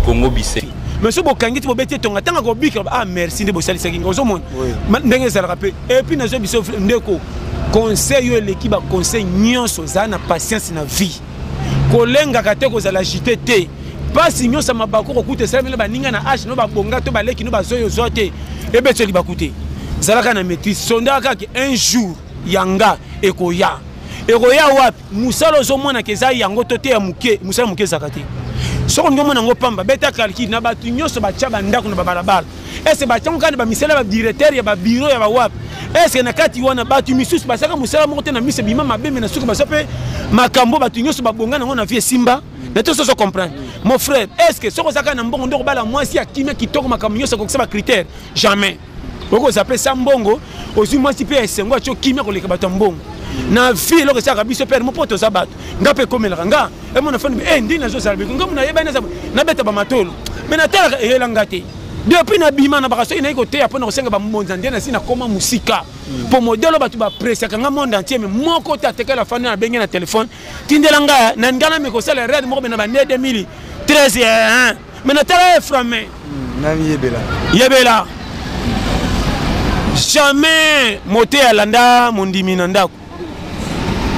Congo bise mais soki bokangi ti bobeti etonga ntango akobika ah merci nde bosalisaki nga ozomona ndenge ezalaka mpe epuis nazwa biso ndeko conseil oyo eleki baconseil nyonso ozala na patience na vie kolengaka te kozala agite te mpasi nyonso ya mabaku kokuta esalami na baninga na age no babonga to baleki no bazoi ozwa te ebeteli baku te zalaka na maîtrise sondaka kaka un jour yanga ekoya ekoya wapi musala ozomonaka eza yango to te ya moke mosala moke ezalaka te soki olingi omona yango pamba beta calcule na bato nyonso batya bandako na babalabala ese batyango kaka na bamisala ya badirecteur ya babiro ya bawapi ese na kati wana bato misusu basalaka mosala moko te na miso ebima mabe me na suki baza mpe makambo bato nyonso babonga nango na vie esimba na to soso comprendre mon frère est ce que soki ozalaka na mbongo nde okobala mwasi ya kimia kitoko makambo nyonso akokisa bacritère jamais oko zape sa mbongo ozwi mwasi mpe ya esengo atyo kimia koleka bato ya mbongo na vie eloko esalaka biso pere mopo toza bato nga mpe ekomelaka nga emona fani e ndini nazozala biko nga mona yebani nabeta bamatolo me natalaka eyela nga te depuis nabima na baka soki nayi koteya mpo na kosenga bambonza nde nasi nakoma mosika mpo hmm. modelo bato bapresaka nga monde entier me moko te atekela afandi na benge na telefone tindela nga na ngai namekosala rede moko bena bande 2013 me natala eframe hmm, nani yebela yebela jamais mote alanda mondimi na ndako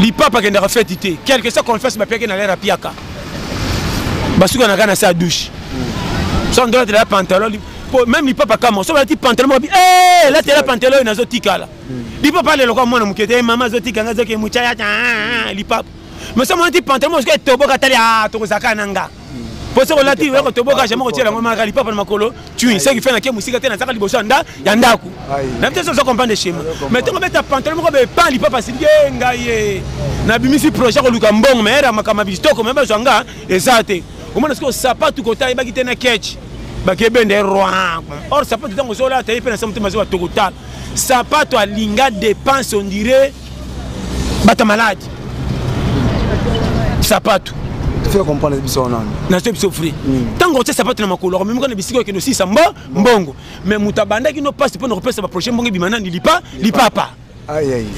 lipapa akendaka feti te quelque soit confesse bapiaki na lere apiaka basukanaka na se ya douche hmm. so ndola tela pantalon po même lipapa kama so balati pantalon moko bi eh la tela pantalon oyo nazo tikala hmm. lipapa lelo kwa mwana moke te eh, mama azo tika nga azoke mucha ya ah, ah, ah, lipapa mais so mwana ti pantalon moko etoboka tali ah tokozaka na nga mpo soki olati yoko toboka jamai kotiela yango maka lipapa na makolo tui soki fe nake mosika te nazaka liboso ya ndako na biso oza comprendre schéma mais ntongo beta pantalon moko bepan lipapa asiliki e ngai ye nabimisi projet koluka mbongo me era makambo ya bitoko me bazwa nga eza te omona soki osapatu kota ayebaki te na ketch bakebende roi or sapatu ntango ozolata ye mpe na sa motema azoba tokotala sapato alinga dépense ondire bata malade sapatu nazo biso fri ntango otie sapatu na makolo akomemika na bisika okende osisa mbo mbongo me moto abandaki no mpasi mpo na kopesa baprojet mbongo ebima nani lipa lipapa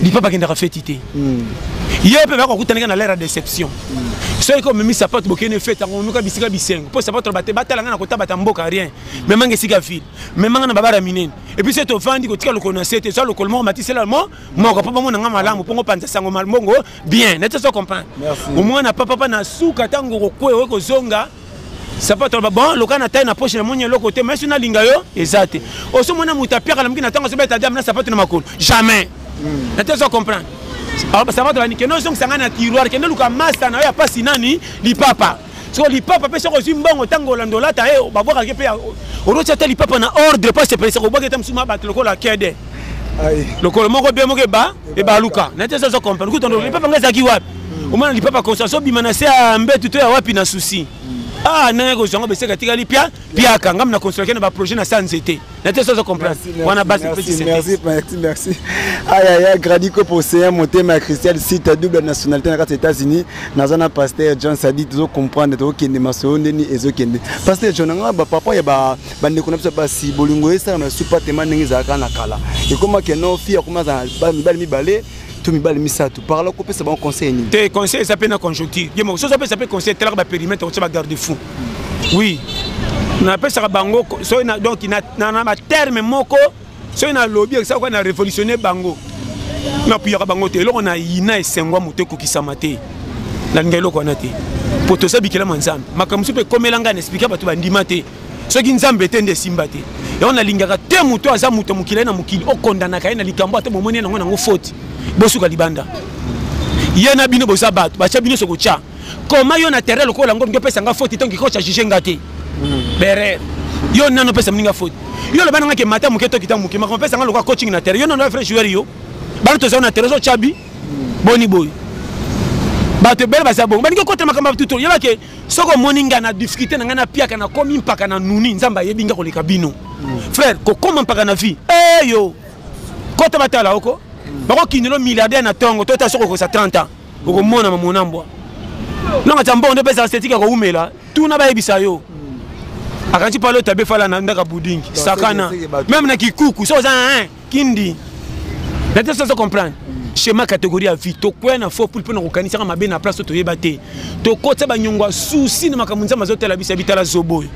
lipapa akendaka feti te hmm. ye mpe bakokutanaka na lere ya déception hmm. soki ko omemi sapatu bokende fete yango omemika bisika bisengo mpo sapatu na bate batala ngai na kotabata mboka rien memanga esika ville memanga na babara minene epuis ete ovandi kotika lokolo na se te eza lokolo moko matisela mo moko mpo bamona nga malamu mpo ngopanza sango mbongo bien nete so comprendre omwana papapa na suka ntango okokwe oye kozonga sapato aloba bon loka na tai na poche na moni eloko te mais so nalinga yo eza te oso mona moto apiaka na moki na ntango azobeta dame na sapato na makolo jamais hmm. nete so comprendre sapato banikende ozongisa ngai na tiroir kende luka masta na yo ya mpasi nani lipapa soko lipapa mpe soko ozwi mbongo ntango olanda olata ye eh, babwakaki mpe oroti ata lipapa na ordre mpo asepelisa kobwaki ata mosusu mabati lokola kede lokolo moko be moko eba ebaluka na te ezazo comprendre kutu ndo lipapa ngai ezalaki wapi hmm. omona lipapa conscience obima na se ya mbetu to ya wapi na souci hmm. ah ndenge kozwa ngo beseka etikali pia piaka ngai na consolaki na baprojet na sa nzete na te sozo comprendre wana basi petit merci merci merci aya ah, ya gradi ko poseya motema ya christian sita double nationalité na kati ya états-unis naza na pasteur john sadi tozo comprendre tokokende masolo ndeni ezokende pasteur john anga bapapa ya bandeko na biso basi bolingo esalama ya supatema ndenge ezalaka na kala ekomaki no fi akoma azala mibali mibale to mibali misato par là kopesa bango conseil nini te conseil eza mpe na conjoncture ye moko soki opesa mpe conseil telaka baperimetre kotya bagarde fou oui napesaka bango soki donc na baterme moko soki nalobi ekisaka kaka na révolutionne bango napuyaka bango te eloko na yina esengwa moto ekokisama te nalinga eloko wana te mpo toza bikelama nzambe makambo mosusu mpe ekomela ngai na esplika bato bandima te soki nzambe te nde esimba te yango nalingaka te moto aza moto mokili na mokili okondanaka ye na likambo ata bomoni yango nango foti bosuka libanda ye na bino boza bato batya bino sokotya koma yo na terrain lokola yango olingi opesa nga foti ntango kikoca juge nga te hmm. berer yo nano opesa moninga foti yo oloba nanga ke mata moke tokita moke makambo opesa nga lokola coaching na terrain yo nano vrai joueur yo bana tozali na terrain ozotya bi hmm. boni boye bato ebele bazala bongo balingi okotela makambo ya batuto yebake soki omoni ngai na difficulté na ngai napiaka nakomi mpaka na nuni nzambe ayebi ngai koleka bino frère kokoma mpaka na vie eyo eh, kota batala oko bakokindelo milliardaire na ntongo to ta soki okosa 30 ans okomona mamona mbwa nanga tya mbongo nde mpeza estetike ya kowumela tuna bayebisa yo akanti pale otabe fala na ndaka budingi sakana meme na kikuku so oza kindi na te soso comprendre schéma catégorie ya vie tokwea na faux poule mpo na kokanisaka mabe na place oyo toyeba te tokotisa banyongo ya susi na makambo nzambe azotala biso ya bitala zobo oyo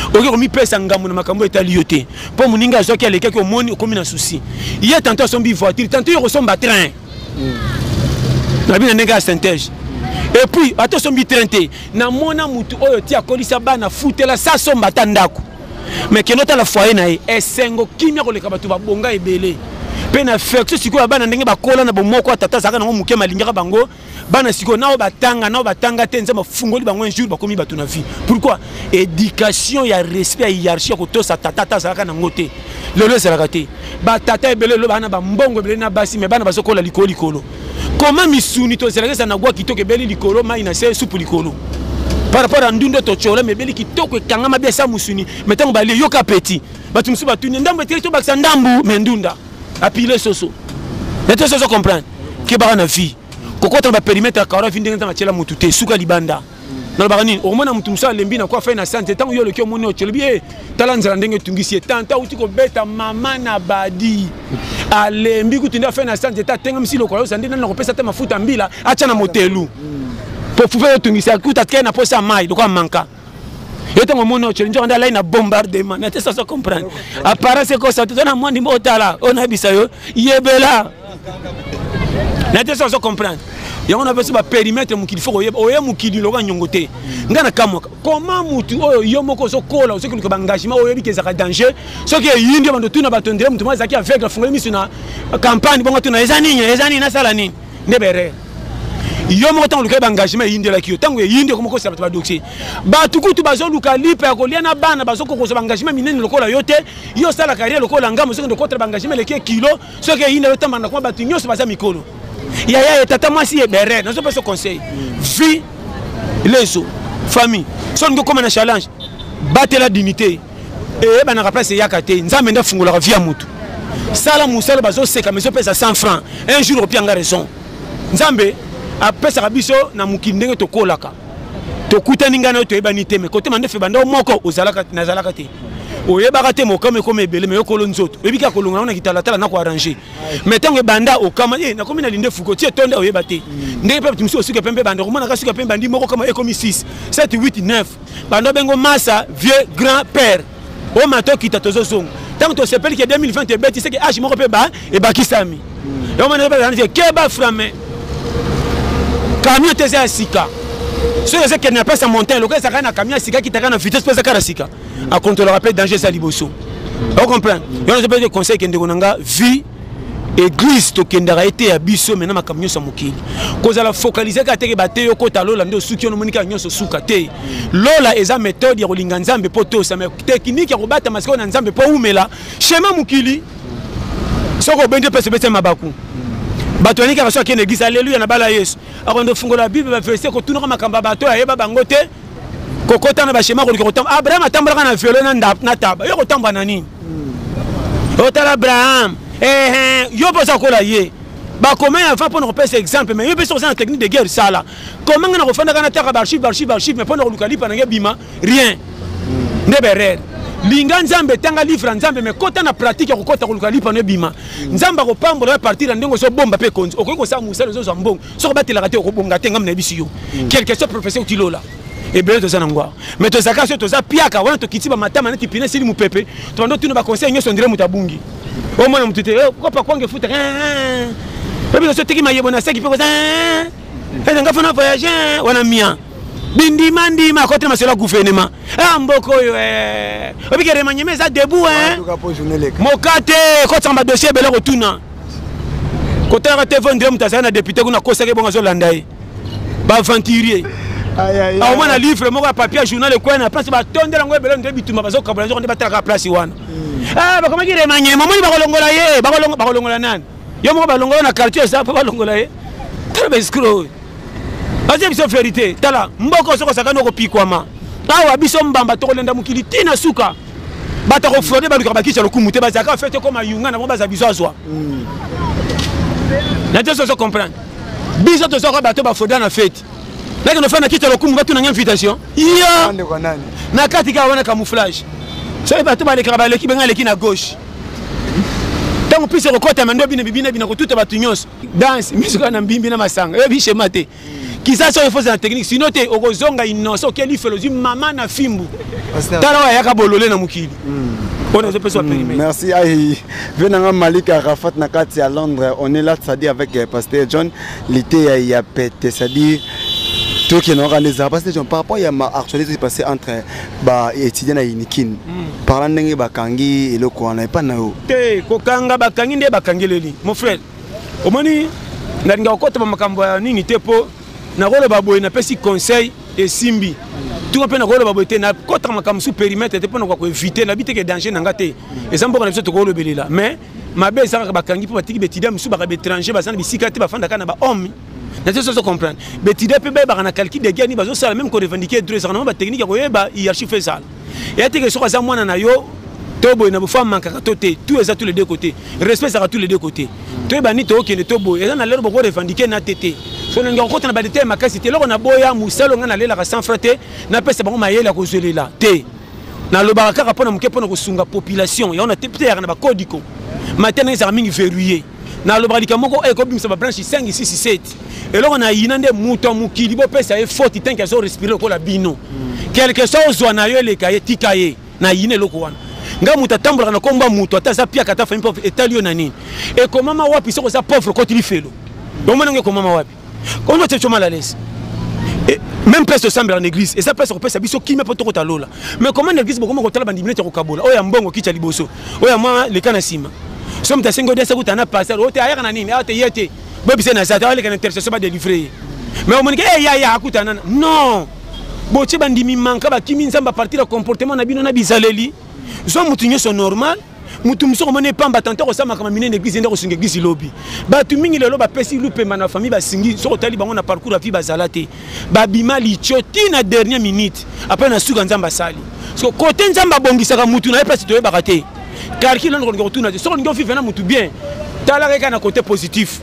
okoki komipesa ngambo na makambo etali yo te mpo moninga azwaki alekaki omoni okomi na susi ye tanto asombi voiture tanto yo kosomba train na bino ndenge ya synthèse epuis ata osombi train te namona motu oyo ti akolisa bana futela sa somba ata ndako mais kende otala foyer na ye esengo kimia koleka bato babonga ebele mpe na affection sikoyo ya bana ndenge bakola na bomoko ya tata azalaka nango moke malingaka bango bana sikoyo nao batanga nao batanga te nzambe afungoli bango un jour bakomi bato na vie pourquoi éducation ya respect ya hiérarchie ya kotosa tata ata azalaka nango te lelo ezalaka te batata ebele lelo baa na bambongo ebele na basi me bana bazokola likolo likolo koma misuni tozelaka eza na gwa kitoko ebeli likolo mai na se supu likolo par rapport ya ndundo totyola mebeli kitoko ekangama bia sa mosuni me ntango balie yoka apeti bato mosusu batuni ndambo eteli tobakisa ndambu me ndunda apile soso na te soso comprendre kebaka na vie kokota na baperimetre ya karo ya vi ndenge ntango atyela motu te suka libanda nalobaka nini okomona moto mosusu alembi na kuafa ye na sante ntango yo oloki omoni oyo olobi ye tala nzela ndenge etungisi ye tanta auti kobeta mama na badi alembi kutu nde afe na sante ta atengamisi lokola yosa nde nani nakopesa te mafuta mbila atya na motelu mpo fufe yotungisa kutu atikali na mposa ya mai lokola manka yo ntango omoni oceli nzoka nde alai na bombardement na te sasa comprendre aparence ekosa te to na mwandi mbo otala oyo nayebisa yo yebela na te soki comprendre yango na pesi baperimetre mokili fo koyeba oye mokili lokola nyongo te ngai na kamwaka koma motu oyo yo moko ozokola ozoki luka baengagement oyebi ke ezalaka danger soki eyindi yo bando tuna bato ndele motu moko azalaki aveugle afungoli miso na campagne bongo tuna eza nini eza nini nasala nini nde berere yo moko ntango olukaki baengagement eyindelaki yo ntango eyindi ekomi kosala bato badoxi bato kutu bazoluka lipa ya kolia na bana bazokokozwa baengagement minene lokola yo te yo osala carrière lokola ngamo sokende okotela baengagement eleki kilo soki eyinda yo otambana na kuma bato nyonso baza mikolo yaya ye tata mwasi ye bere nazopesa conseil vie lezo famille so olingi okóma na challenge batela dignité eyebanaka place eyaka te nzambe nde afungolaka vie ya motu sala mosala bazoseka mais opesa 100 franc un jour opia nga raison nzambe apesaka biso na mokili ndenge tokolaka tokutani ngai na yo toyebani te me kotema nde febanda yo moko ozalaka nazalaka te oyebaka te mokama ekoma ebele me yokolo nzoto oyebi kaka kolonga yango na kitalatala na koarrange mais ntango ebanda okama e nakomi na linde fuko ti etonda oyeba te mm. ndenge mpe bato mosusu osuka mpe mpe banda okomonaka suka mpe bandi moko kama ekomi 6 7 8 9 banda bengo masa vieux grand père omata okita tozozonga ntango tosepeli ke 2020 ebeti seke age moko mpe ba ebakisami yango mwana ebala nani keba frame camion te eza ya sika soki eza kende na place ya montagne lokola ezalaka na camion ya sika kitaka na vitesse mpe ezaka na sika akontrolaka mpe danger eza liboso ocomprendre yango nazo mpe conseil kendeko na nga vie eglise tokendaka ete ya biso mena makambo nyonso ya mokili kozala fokalise kaka teke bateyi okota lola nde osuki ono omoni kaka nyonso suka te lola eza methode ya kolinga nzambe mpo tosa me tekinike ya kobatama sikoyo na nzambe mpo oumela Shema mokili soki obendi opesa obesa mabaku bato yaniki kaka so akende eglise aleluya na bala yesu akondo fungola bible baverse kotunaka makambo ya bato oyo ayeba bango te kokota na bashema koluka kotamba abraham atambolaka na velo na taba yo kotamba na nini hmm. otala abraham ehe yo mpe oza kola ye bakomei avant mpo na kopesa exemple mai yo mpe soki oza na technique de guerre sala comment nga nakofandaka nataka baarchive baarchive baarchive mais mpo na koluka lipa na ngai bima rien nde berere linga nzambe tanga livre ya nzambe me kota na pratique ya kokota koluka lipa no ebima nzambe akopambola ya partir ya ndenge ozobomba mpe ekonzi okoki kosala mosala ozozwa mbongo soki obatelaka te okobonga te ngambi na yebisi yo mm. quelque soit professeur otilola ebele toza na ngwaa mais tozalaka so toza piaka wana tokiti bamatama neti pine esili mopepe tobanda otuna baconseil nyonso ndire moto abungi omona motu te eh, kopa kwange futa eh, eh, oyebi naso teki mayebo na seki mpe koza ete nga fana voyage eh, wana mia bindima ndima akotela masolo ya guvernema a ah, mboka oyo eh. obike remaniema eza debout eh. moka te kotisaka badossier ebele kotuna kotalaka te vondre moto azali na depute kuna akosaki bongo azolanda ye baaventurier aomona livre moko ya papier journal ekwei na place batondela yango ebele nde bituma bazokabola nzoko nde batalaka place wana hmm. ah, bakomaki remaniema omoni bakolongola ye bakolongola nani yo moko balongola na quartier eza mpo balongola ye tala baescro oyo batie biso verité tala mboka oyo soki osakani okopikwama awa biso mbamba tokolenda mokili ti na suka bato akofrode balukaka bakisa lokumu te bazalaka fete ekoma yunga na bango baza biso azwa hmm. na te soso comprendre biso tozwaka bato bafroda na fete nakende ofanda kita lokumu batuna nga invitation ya na kati kaka wana camouflage soki bato balekaka baleki benga aleki na gauche ntango mpisi ekokota mando bina bibina bina kotuta bato nyonso danse misuka na mbimbi na masanga eyebi shema te kiza soki efosa na technique sino te okozonga inosa oke lifelo ozwi mama na fimbu tala oyo ayaka bolole na mokili hmm. oyo nazopesa wa hmm, perime merci ai ve nanga malik arafat na kati ya londres on est là cestadi avec euh, pasteur john liteya ya pete cestadi tokenaka nde ezala pasteur john par rapport ya ma actualité passé entre ba étudiant na unikin hmm. parla ndenge bakangi eloko wana epa na yo te kokanga bakangi nde bakangeleli mon frère omoni nalinga kokotama makambo ya nini te mpo nakoloba boye napesi conseil esimbi tuma mpe nakoloba boye te nakotaka makambo su perimetre te mpo nakoka koevite nabi teke danger na nga te eza mboka na biso tokolobelela mais mabe ezalaka bakangi mpo batiki baetudiant mosusu baka baétranger baza na bisika te bafandaka na bahomme nazo sozo comprendre betide mpe bayebaka na calcul de guerre nini bazosala meme korevendique droit ezalaka nango batechnike ya koyeba hierarchie fo ezala eya teke soki aza mwana na yo to boye na bofo amankaka to te tout eza tous les deux côté respect ezalaka tous les deux côté toyeba nini tookende to boye eza na lelo boko revendique na te te so nalinga kokota na badetail makasi te eloko naboya mosala ongai nalelaka sans fra te napesa bango mayele ya kozwelela te nalobaka kaka mpo na moke mpo na kosunga population yango na te pteyaka na bakodiko matena ezalaka mingi verrouille nalobaka likambo moko oyo eh, ekobimisa babranche 5 6 7 eloko na yina nde moto ya mokili bopesa ye foti tanke azo respire lokola bino quelque soit ozwa na yo eleka ye tika ye na yina eloko wana ngai moto atambolaka na komba moto ata aza piaka ata fami pauvre etali yo na nini ekomama wapi soki oza pauvre okoti lifelo bomoni yango ekomama wapi ozo oh, tsecho mal à l'aise eh, même place tosambela na église eza place kopesa biso kimia mpo tokota lola mais comment na église bokoma kotala bandimi neti ya kokabola oyo ya mbongo kitya liboso oyo ya mwa leka na nsima so moto asengi odesa kuta na pasteur oyo oh, te ayaka na nini awa ah, te ye te bobise na zata aleka na intercession badelivre ye mais omonike e eh, yaya akutana na non botie bandimi manka bakimi nzambe apartir ya comportement na bino na bizaleli zwa moto nyonso normal moto mosusu akomona epamba tante akosala makambo minene eglise nde akosunga eglise lobi bato mingi lelo bapesi lupemba na famille basingi soki otali bango na parcours ya vie bazala te babima litio ti na dernier minute apres na suka nzambe asali so kote nzambe abongisaka motu na ye mpasi toyebaka te karki lelo nakolinga kotuna te soki olingi ovive na motu bien talaka eka na kote positif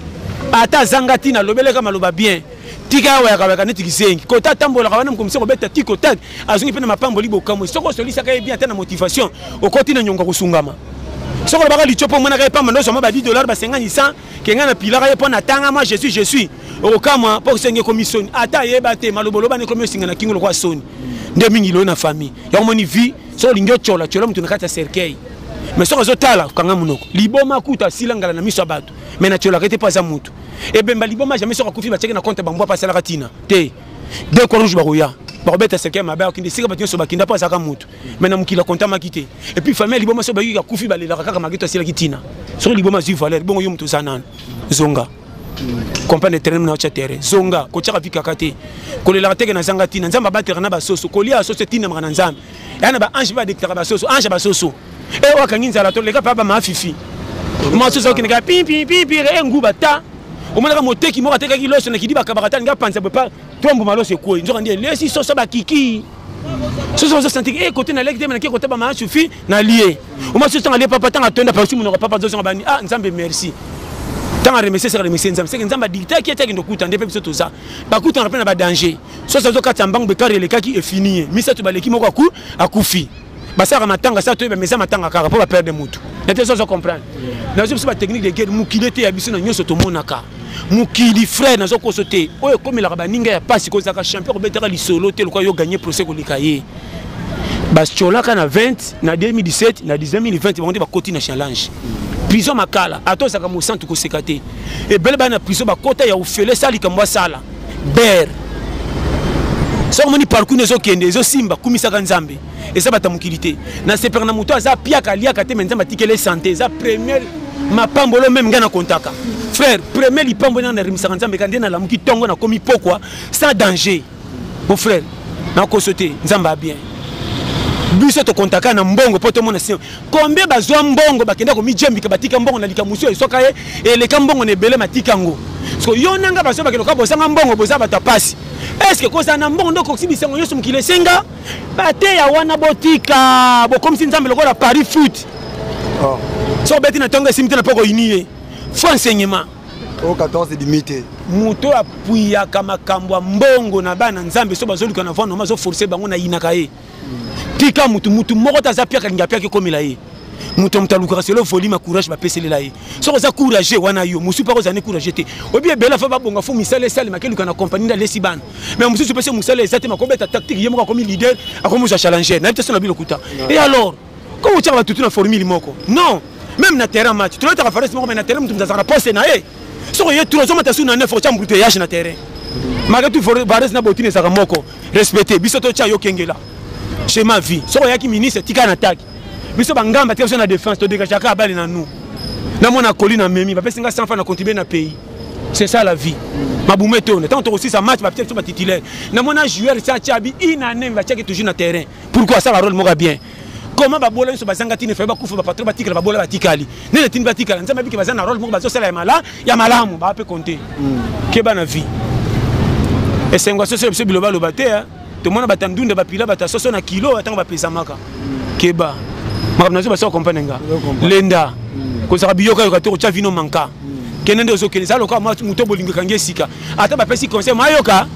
ata azanga ntina lobeleka maloba bien tika ya wayakawayaka neti kizengi kota atambolaka wana mokomisi kobeta tiko tak azongi mpe na mapamboli bokamwe soki osolisaka ye bien ata na motivation okoti na nyongo kosungama soki olobaka litio mpo omonaka ye pamba ndozwama ba 10 dollar basengani 100 kenga na pilaka ye mpo na tanga mwa jesus je suis okokamwa mpo osenge ekomi soni ata ayeba te maloboloba nekomi osinga na kingo lokola soni nde mingi loyo na famille yango moni vie soki olingi otyola tyola moto na kati ya cercueil mais soki azotala kanga monoko liboma kuta asila ngala na miso ya bato mais natyolaka ete mpo aza moto ebemba liboma jamais soki akufi batiaki na compte bambwa mpe asalaka ntina te de croix rouge bakoya bakobeta seke mabe akokende esika bato nyonso bakenda mpo azalaka motu mai na mokili akontamaki te epuis famille ya liboma soki bayiki akufi balelaka kaka maketo asilaki ntina soki liboma azwi valeur bongo yo moto oza nano zonga comprendre terrain na otya terrain zonga kotyaka vi kaka te kolelaka teke nazanga ntina nzambe abateraka na basoso kolia basoso etinamaka na nzambe yaa na baange mpe badektaka basoso ange ya basoso e eh, wakangi nzala to leka pa ba ma fifi ma so so kinga pi pi pi pi e nguba ta omonaka moteki moko atekaki loso na kidi bakabaka ta nga panza bopa tombo maloso ekoi nzoka ndiye lesi so so ba kiki soso ozo sentiki e eh, kote naleki te menake kotaba maa sufi nalie oma soso ntango alie papa ntango atonda pasi monoko papa azozonga bani a ah, nzambe merci ntango aremercie seka remercie nzambe seke nzambe adikitaki ete akende okuta nde mpe biso toza bakutanaka mpe na badanger soso azokatisa mbangu bekare elekaki efini ye misato baleki moko akufi basalaka matanga sa toyeba meza matanga kaka mpo baperde motu nete sozo comprendre nazo biso batechnique de guerre mokili ete ya biso na nyonso tomonaka mokili frère nazo koso te oyo ekomelaka baninga ya mpasi kozalaka champion kobetaka lisolo te lokola yo gagne procès koleka ye batiolaka na 20 na 2017 na 2020 bango nde bakoti na challenge prison makala ata ozalaka mosantu koseka te ebele bana na prison bakota ya ofele sa likambo asala ber soki omoni parcours na ezokende ezosimba kumisaka nzambe eza bata mokili te nasepelaka na moto aza piaka aliaka te me nzambe atikele sante eza premier mapambolo meme ngai nakontaka frère premier lipambo nanga narimisaka nzambe ka nde nalamuki ntongo nakomi pokwa sans danger mon frère nakoso te nzambe a bien biso tokontaka na mbongo mpo tomona combien bazwa mbongo bakenda komijembika batika mbongo na likambo mosusu eswaka ye eleka mbongo na ebele matika yango so yo na ngai baso bakende koka bozanga mbongo boza bato ya mpasi eske kozala na mbongo nde okoki bisango nyonso mokili esenga bateya wana botika bokomisi nzambe lokola paris foot oh. so obeti na ntongo esimi te na mpo koyini ye fo enseignement o oh, 14 edimi te moto oyo apuyaka makambo ya mbongo na bana nzambe so bazoluka na vano ma azoforce bango nayinaka ye tika mutu mutu moko te aza piaka lingi apiaki ekomela ye moto moto alukaka selo volume courage bapeselela ye soki oza courage wana yo mosusu mpaka ozali courage te obi ebele fa babonga fo misala esalema keluka na kompani nde alesi bana mais mosusu mpese mosala eza te makobeta tactique ye moko akomi leader akomi ozwa challenger nayebi te so na bino lokuta e alors Ko kotia ba tutu na formule moko. Non. Même na terrain match, tu la force moko mais na terrain mutu mzazaka poste na ye. Soko ye tu ozoma tasu na 9 otia mbuteyage na terrain. Malgré tout Varese na Botine ezaka moko. Respecter biso to tia yo kengela. Chez ma vie. Soko yaki ministre tika na attaque. Biso ba ngamba tika biso na défense to dégage ka bali na nous. Na mona koli na memi, ba pesi nga 100 francs na contribuer na pays. C'est ça la vie. mabumu etone ntango tokosisa match bapesa biso batitulaire namona joueur sa atya abi inane batiaki toujours na terrain pourquoi asala role moko ya bien comment babola nyonso bazanga ntina efai bakufa bapatro batikala babola batikali nini etindi batikala nzambe abiki baza na role moko bazosala ya malamu baa mpe konte hmm. keba na vie esengo ya soso ya biso bilobaloba te eh. tomona bata ndunda bapila bata soso na kilo ntango bapezamaka hmm. keba makambo nazo basoka kompane nga lenda hmm. kozaka biyokayoka te kotya vino manka kende nde ozokende eza lokola moto bolingo ekangi esika ata bapesi conseil mayoka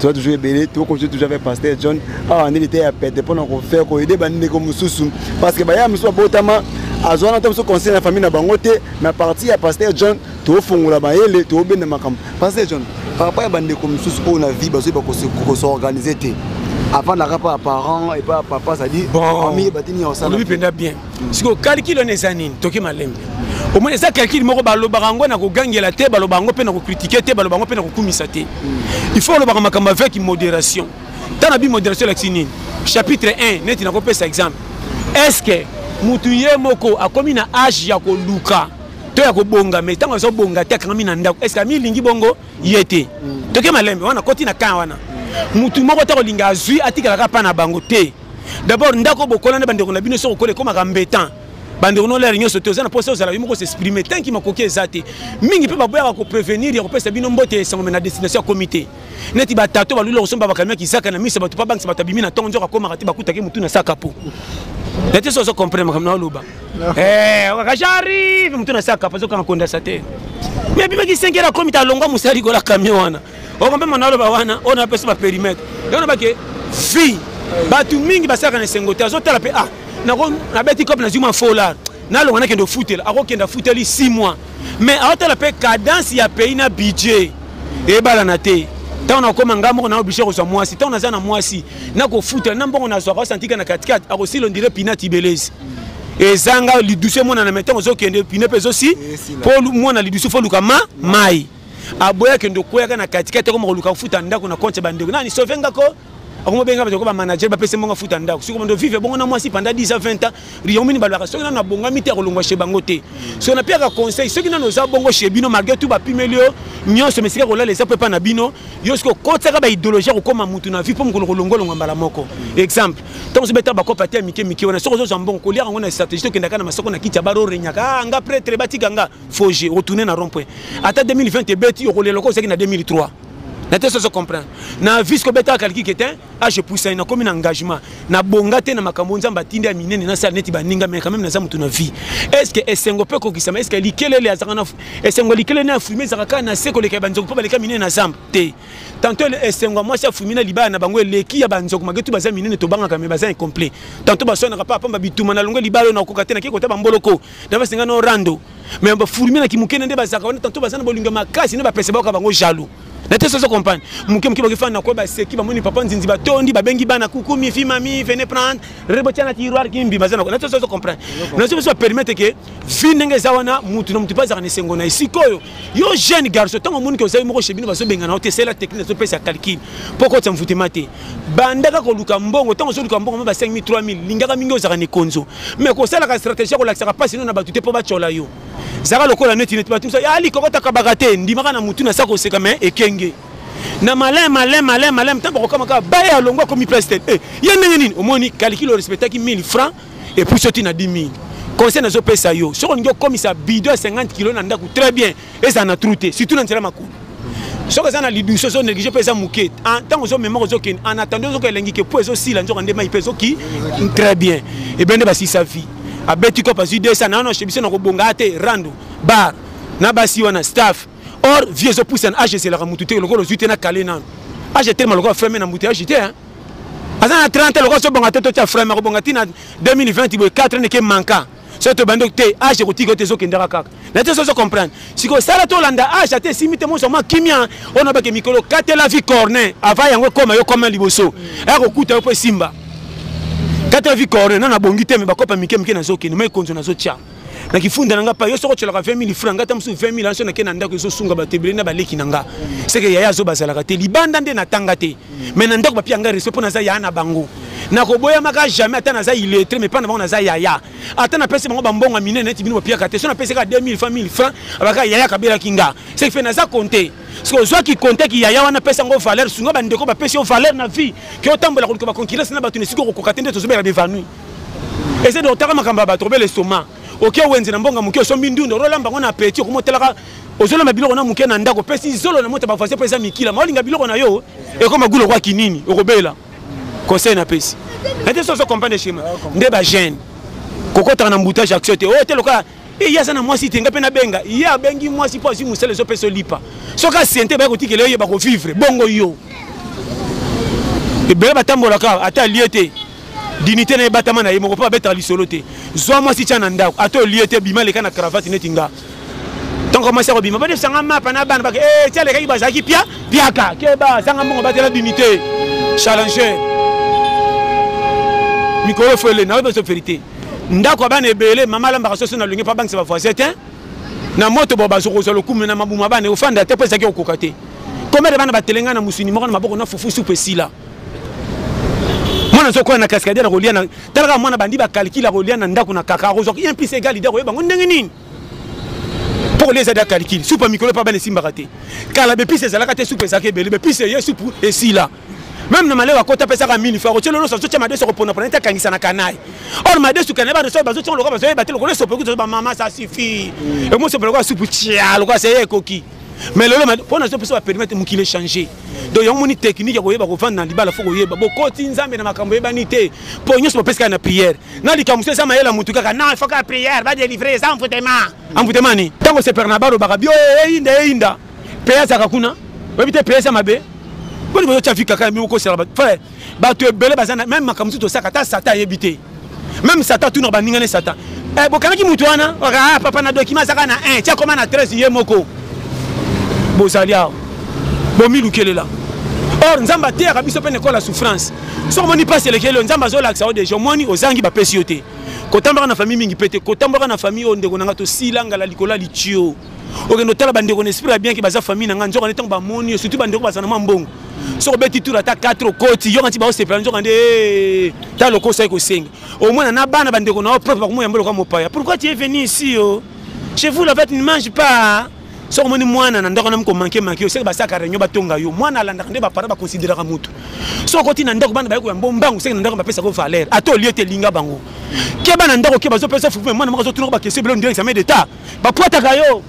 toza toujours ebele tokoki toujours avec pasteur john awa nde liteya pete mpo na kofaire koyede bandeko mosusu parce que baya mosusu babotama azwa na ta mosusu conseil na famille na bango te mais parti ya pasteur john tofongola mayele tobenda makambo pasteur john par rapport ya bandeko mosusu oyo na vie bazoyi bakosorganize te avandaka mpo ya parent epa ya papa cestadire famille ebatini ya osala mpenza bien sikoyo calcul wana eza nini toki malembe omoni eza calcul moko balobaka yango na kogangela te balobaka yango mpe na kokritike te balobaka yango mpe na kokumisa te il faut olobaka makambo avec modération ntango na bi modération elakisi nini chapitre 1 neti nakopesa exemple est ce que motu ye moko akomi na age ya koluka to ya kobonga mai ntango azo bonga te akangami na ndako est ce que amilingi bongo ye te toke malembe wana koti na kan wana motu moko ta kolinga azwi atikalaka mpa na bango te D'abord ndako bokola na bandeko na bino soko kola ekomaka mbetan. Bandeko no lere nyonso te oza na posa ozala yo moko s'exprimer tant que makoki eza te. Mingi mpe baboyaka ko prévenir ya kopesa bino mbote ya esango me na destination ya comité. Neti ba tato balula kosomba ba camion kizaka na misa bato pa bangisa bato abimi na tongo nzoka akomaka te bakutaki mutu na saka po. Neti so ozo comprendre makambo na oloba. Eh, okaka j'arrive mutu na saka pa zokanga konda sa te. Mais bimaki 5 heures akomita alongwa mosali kola camion wana. okomema naloba wana oyo napesi baperimetre yango nabake fille bato mingi basalaka na esengo te azotala mpe ah nabeti cope nazwi mwa folar nalonga nakende ofutela akokende afuteli 6 mois mais aotala mpe cadence ya pays na budget ebalana te ntango nakoma ngai moko nao oblige kozwa mwasi ntango naza na mwasi nakofutela na mbongo nazwaka osantika na katikati akosila ondire pina tibelezi ezanga lidusu emonana me ntango ozokende pine mpe ezosi mpo mwana lidusu fo oluka ma mai aboya kende okweyaka na katikati akoma koluka kofuta ndako na konte ya bandeko nani sauve nga ko akoma obenga bato ko bamanager bapesi mbongo afuta ndako soki omondo vive bongo na mwasi panda 10 a 20 ans riomini balobaka soki nano abongami te akolongwa chez bango te soki napiyaka conseil soki nano oza bongo chez bino malgre tout bapimeli yo nyonso mesika kolala eza mpo epa na bino yo soki okotisaka baidéologie akokoma motu na vie mpo mokolo kolongolongwa mbala moko exemple ntango ozobeta bakope ate ya mike mike wana soki ozozwa mbongo koliaka yango na stratégie tokendaka na masoko na kiti ya baro orenyaka ah, nga pretre batika nga faut je retourner na rond point ata 2020 ebeti okolela lokola ozalaki na 2003 na te sozo comprendre na vise kobetaka kaliki ke te age puisani nakomi na engagement nabonga te na makambo nzambe atindi ya minene nasala neti baninga me quand même naza motu na vie est ce que esengo mpe ekokisama est ce que likelele azalaka na esengo ya likelele na afrime ezalaka kaka na se koleka ya banzoku mpo baleka minene na zamba te tanto esengo ya mwasi afrime na libala na bango eleki ya banzoku magetu baza minene tobangaka me baza incomplet tanto baswanaka mpe apamba bituma na longo libala oyo nakoka te nakei kota bamboloko na basenga no rando mais bafurmi na kimoke na nde bazalaka wana tanto baza na bolingo ya makasi nde bapesa bayoka bango jaloux na te soso comprendre moke moke bakifana na kue baseki bamoni papa nzinzi batondi babengi bana kuku mifi mami vene prendre rebotia na tiroir kimbi baza na te soso comprendre nazo biso bapermettre ke vi ndenge eza wana mutu na mutu mpe azalaka na esengo na ye sikoyo yo jeune garçon ntango omoni ke ozali moko chez bino bazobengana yo te esala technique azopesa calcul mpo okotisa mvutema te bandaka koluka mbongo ntango ozoluka mbongo ma ba 5000 3000 lingaka mingi ozalaka na ekonzo mai kosalaka stratégie ya kolakisaka mpasi no na bato te mpo batyola yo zaka lokola neti neti bato mosa ya likokotakabaka te ndimaka na motu na sa koseka mai ekenge na malin malin malin malin ntango bakokama kaka baye alongwa akomi place te eh, ye ndenge nini omoni kalikile orespectaki 1000 francs epuis oti na 10 000 conseil nazopesa yo soki olingi okomisa bido ya 50 kilo na ndako très bien ezala na trou te surtout na nzela makolo soki eza na lidusu ezo néglige mpe eza moke ntango ozomemaka ozokende en attendant ozoka elengi ke mpo ezosila nzoka nde mai mpe ezoki très bien ebien nde basisa vie abeti kope azwi 200 nano ashebisi na kobonga te rando bar na basi wana staff or vie ezopusa na age ezelaka motu te lokola ozwi te na kale nano age etelema lokola frame na mbuta age te aza na 30 lokola ozobonga te totya frame akobonga ntina 2020 boye 4 neke manka soki tobandi oyo te age ekotika ete ezokendaka kaka na te sozo comprendre sikoyo sala tolanda age ata esimi te monso mwa kimia oyo nabake mikolo katela vie corne ava yango ekoma yo koma liboso aya kokuta yo mpo esimba katela vie corne nana bongi te me bakopa mike mike nazokende ma ekonzo nazotya na kifunda na nga pa yo soko otyolaka 20 000 franc nga ta mosusu 20 000 anso nake na ndako ezosunga bato ebele na baleki na nga seke yaya azo bazalaka te libanda nde natanga te mais na ndako bapia ngai respect mpo naza yaya na bango nakoboyamaka jamais ata naza illettré mais mpa na bango naza yaya ata napesi bango bambongo ya minene neti bino bopiaka te so napesi kaka 2000 fa 1000 franc abaka yaya kabelaki nga ce qui fait naza compte soki ozwaki compte ki yaya wana apesa yango valeur sunga bandeko bapesi yo valeur na vie ke otambola koluka baconcurrence na bato na esika okokoka te nde tozobela bevanoui eza de otaka makambo ya bato obela estoma oke okay, wenze na mbonga moke osombi ndunda ololamba yango na apeti okoma otalaka ozolamba biloko na moke na ndako opesi zolo na mota bavoisin mpo eza mikila ma olinga biloko na yo ekoma gulo kwa kinini okobela conseil napesi ete so ozo comprendre schéma nde bagene kokotaka na mboutage action te oyo oh, te lokola eh, ye aza na mwasi te nga mpe nabenga ye abengi mwasi mpo azwi mosala ezopesa olipa soki asiente baye kotikela yo ye bakovivre bongo yo ebele batambolaka ata alie te dinite na ye batama na ye moko mpo abetaka lisolo te zwa mwasi tya na ndako ata olie te bima leka na cravate neti nga ntango mwasi akobima badefisanga mapa na bana bake e eh, ti alekaki bazalaki pia piaka keba zanga mbongo batela dinite challenger mikolo fele nayo bezo verité ndako ya bana ebele mama alambaka soso na longi mpo abangisa bavoisin te na moto bo bazokozwa lokumu na mabumu ya bana ofanda te mpo ezalaki kokoka te komede bana batelenga na mosuni moko na maboko na fufu supu esila mwana soki okoya na cascadier na kolia na talaka mwana bandi bakalkile akolia na ndako na kaka akozwa un plus egal ide akoyeba yango ndenge nini mpo kolia eza da kalkile supu ya mikolo epa bana esimbaka te kala bepise ezalaka te supu ezalaka ebele bepise eye supu esila meme na malewa kota apesaka mini fa kotyela olosa azotya madesu akoponapona ete akangisa na kanai or madesu kanai badoso bazotya lokola bazoyeba te lokola esope kutu bamama sa suffit mm. ekoma esope lokola supu tya lokola seye ekoki mais lelo mpo na biso baperimete mokili echange donc yango moni technique ya koyeba kovanda na libala fo koyeba bokoti nzambe na makambo eyebani te mpo nyonso bapesi kaka na prière na likambo so eza mayele ya motu kaka non ifoka prière badelivre eza envoutema envoutema ni ntango sepere na balobaka bio eh, eyinda eyinda mpe azaka kuna oyebi te mpe eza mabe boni bozotya vi kaka mi okosala frère bato ebele baza na meme makambo mosusu tosaka ata satan ayebi te meme satan atunaka baninga ne satan eh, bokangaki moto wana ah, papa na dokima azaka na 1 ti akoma na 13 ye moko bozali awa bomilukelela or nzambe ateyaka biso mpe na ekole ya souffrance soki omoni mpasi elekeli yo nzambe azolakisa yo deja omoni ozangi bapesi yo te kotambaka na famille mingi mpe te kotambaka na famille oyo ndeko na ngai tosila ngala likolo ya litio okende otala bandeko na esprit ya bien ke baza famille na ngai nzoka nde ntango bamoni yo surtout bandeko bazana mwa mbongo soki obeti tour ata 4 okoti yoka nti baosepela nzoka nde eh, ta loko osali kosenga omona na bana bandeko na yo propre bakomoyamba loka mopaya pourquoi tu es venu ici yo oh? chez vous la vete ne mange pas soki omoni mwana na ndako nami komanke manke yo seke basalaka réunion batonga yo mwana alandaka nde bapara baconsideraka motu soki okoti na ndako bana baye koya mbombangu seke na ndako bapesaka valeur ata olie te elinga bango keba na ndako ke bazopesa fukume mwana moko azotunaka bakesi ebele ondire examen d'état bapwataka yo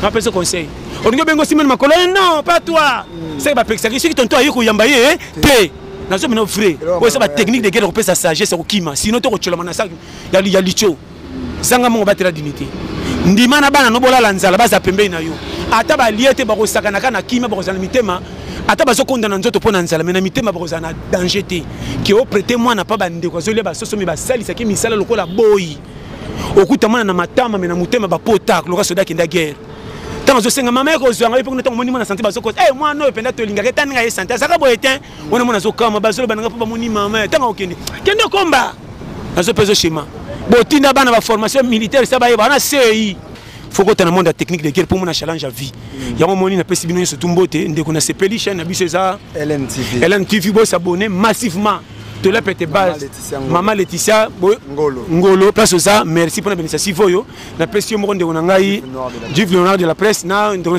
napesi conseil olingi obenga osimeli makolo ye eh, non pas toi mm. seke bapekisaki soki tonto aye koyamba ye eh, te nazo mino vrai oyo eza batechnique de guerre kopesa sagesse ya kokima sino to kotyolama na saki ya litio zanga mongo batela dignité ndima na bana no bolala nzala baza pembei na yo ata balie te bakosakanaka na kimia bakozala na mitema ata bazokonda na nzoto mpo na nzala me na mitema bakozala na danger te ke oprete mwana mpa bandeko azolia basoso me basalisaki misala lokola boyi okutamana na matama me na motema bapotaka loka soda akenda guerre ntango azosenga mama ye kozwa ngai mpe kuna ntango omoni mwana sante bazokosa e eh, mwana oyo mpenza tolingaka etani ngai ye sante azalaka boye te wana mwana azokama bazoloba na ngai mpo bamoni mama ye ntango akokende kende okomba nazo mpe ezoshema botinda bana baformation militaire sa bayeba wana sei fokota na monde ya technique de guerre mpo mona challenge ya vie mm. yango omoni napesi bino nyonso tu mbote ndeko nasepeli chaine na biso eza lntv bosabone massivement tola pete base mama leticia ngolo place oza merci mpona benisasive oyo napesi yo moko ndeko na ngai jive leonard de la presse na ndeko